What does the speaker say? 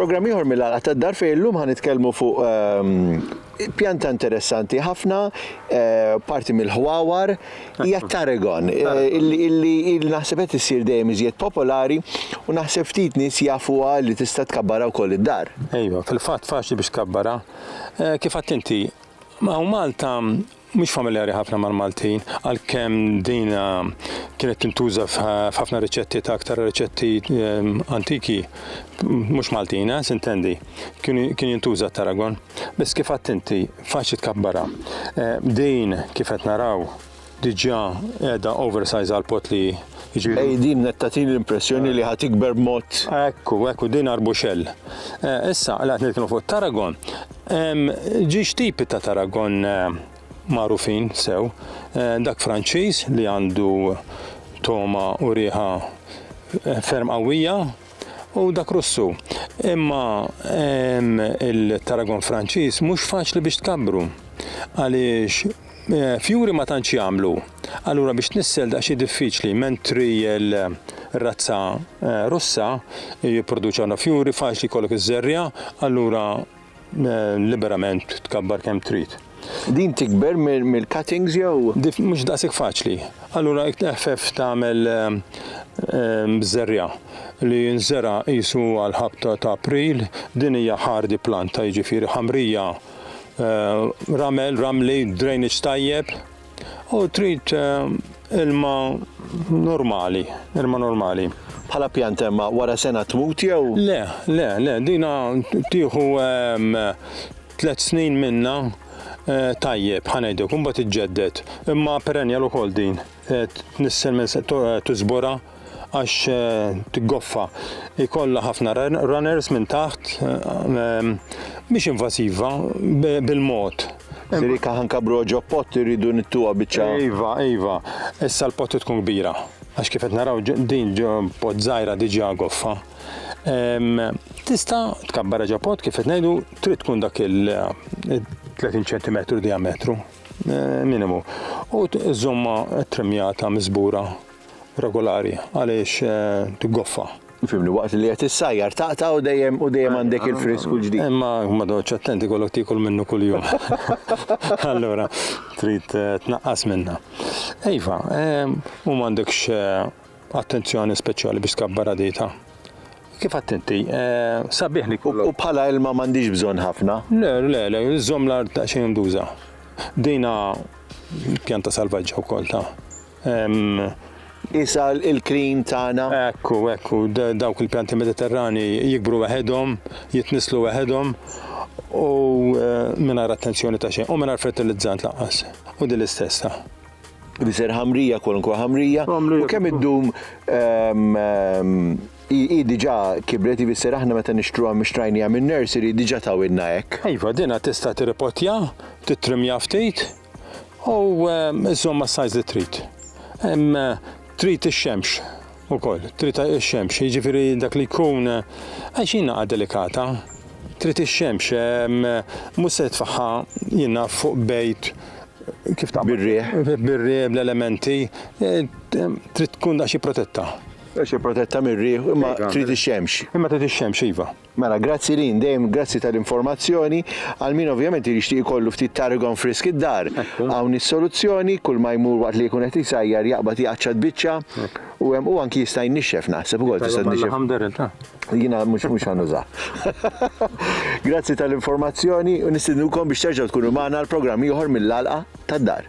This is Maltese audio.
Programm ieħor mill-għalqa tad-dar fejn illum ħan nitkellmu fuq ehm, pjanta interessanti ħafna, eh, parti mill-ħwawar, hija t-tarragon, illi naħseb qed issir dejjem iżjed popolari u naħseb ftit nies jafuha li tista' tkabbarha wkoll id-dar. Ejwa, fil-fatt faċli biex tkabbarha. Eh, kif għadt inti, hawn Malta mhux familjari ħafna mal-Maltin, għalkemm din kienet tintuża f'ħafna riċetti ta' aktar riċetti eh, antiki, mhux Maltina, eh, sintendi. kien jintuża t-taragon, biss kif għadt inti faċli tkabbarha. Eh, din kif qed naraw diġà qiegħda oversize għal pot li jiġifieri. Ej din qed tagħtini l-impressjoni li ħadd ikber mod. Ekku, ekku din arbuxell. Eh, issa qed nitkellmu fuq taragon. Ġiex tipi ta' taragon eh, magħrufin sew, dak Franċiż li għandu toma u riħa ferm qawwija u dak Russu. Imma il-taragon Franċiż mhux faċli biex tkabbru għaliex eh, fjuri ma tantx jagħmlu. Allura biex tnissel daqsxi diffiċli mentri l-razza eh, Russa jipproduċa fjuri faċli jkollok iż-żerja, allura Liberament tkabbar kemm trid. Din tikber mill-cuttings jew? Mhux daqshekk faċli. Allura eħfef tagħmel ehm, ehm, żerriegħa li jinżera' qisu għall-ħabta ta' April, din hija hardy planta jiġifieri ħamrija, ehm, ramel, ramli, drainage tajjeb. U trid eh, ilma normali, ilma normali. Bħala pjanta imma wara sena tmut jew? Le, le, le, dina tieħu ehm, tliet snin minna eh, tajjeb ħanejdek, imbagħad iġġedded. Imma perennial ukoll din. Eh, Tnissel minn tużbora għax tiggoffa jkollha ħafna runners minn taħt mhix invażiva bil-mod. Sirika ħankabru ġo pott irridu nittuha biċċa. Iva, iva, issa l-pott tkun kbira. Għax kif qed naraw din ġo pott żgħira diġà goffa. Tista' tkabbara ġo pott kif qed ngħidu trid tkun dak il-30 cm diametru minimu. U żomma trimmjata miżbura regolari għaliex tiggoffa. Fimni waqt li qed issajjar taqta' u dejjem u dejjem għandek il-frisk u l-ġdid. Imma ma dotx attenti kollok tiekol minnu kuljum. Allura trid tnaqqas minnha. Iva, u m'għandekx attenzjoni speċjali biex tkabbar għadita. Kif attenti, sabiħ li kollok. U bħala ilma m'għandix bżonn ħafna. Le, le, le, żomm l-art daqsxejn mduża. Dina pjanta salvaġġa wkoll ta'. Qisha l-kliem tagħna. Ekku, ekku, dawk il-pjanti Mediterrani jikbru waħedhom, jitnisslu waħedhom u mingħajr attenzjoni ta' xejn, u mingħajr fertilizzant lanqas. U din l-istess ta'. Biser ħamrija, kwalunkwe ħamrija. U kemm iddum hi diġà kibret, ifisser aħna meta nixtruha mixtrajniha minn nursery diġà tawilna hekk. Iva, dinha tista' tirripotja, tittrimmja ftit. U żomma s-sajz li trid. Trid ix-xemx ukoll, trid ix-xemx, jiġifieri dak li jkun għax jingħaqad delikata. Trid ix-xemx, mhux se tfaħħa jiena fuq bejt kif ta' birriħ, birriħ bl-elementi, trid tkun daqsxi protetta. Daqsxi protetta mir-riħ, imma trid ix-xemx. Imma trid ix-xemx iva. Mela, grazzi Lynn, dejjem grazzi tal-informazzjoni. Għal min ovvjament jixtieq ikollu ftit tarragon frisk id-dar, hawn is-soluzzjoni, kull ma jmur waqt li jkun qed isajjar jaqbad iqaċċat biċċa u hemm u anki jista' jnixxef naħseb ukoll tista' tnixxef. Jiena mhux mhux ħa nużah. Grazzi tal-informazzjoni u nistidnukom biex terġgħu tkunu magħna għal programm ieħor mill-għalqa tad-dar.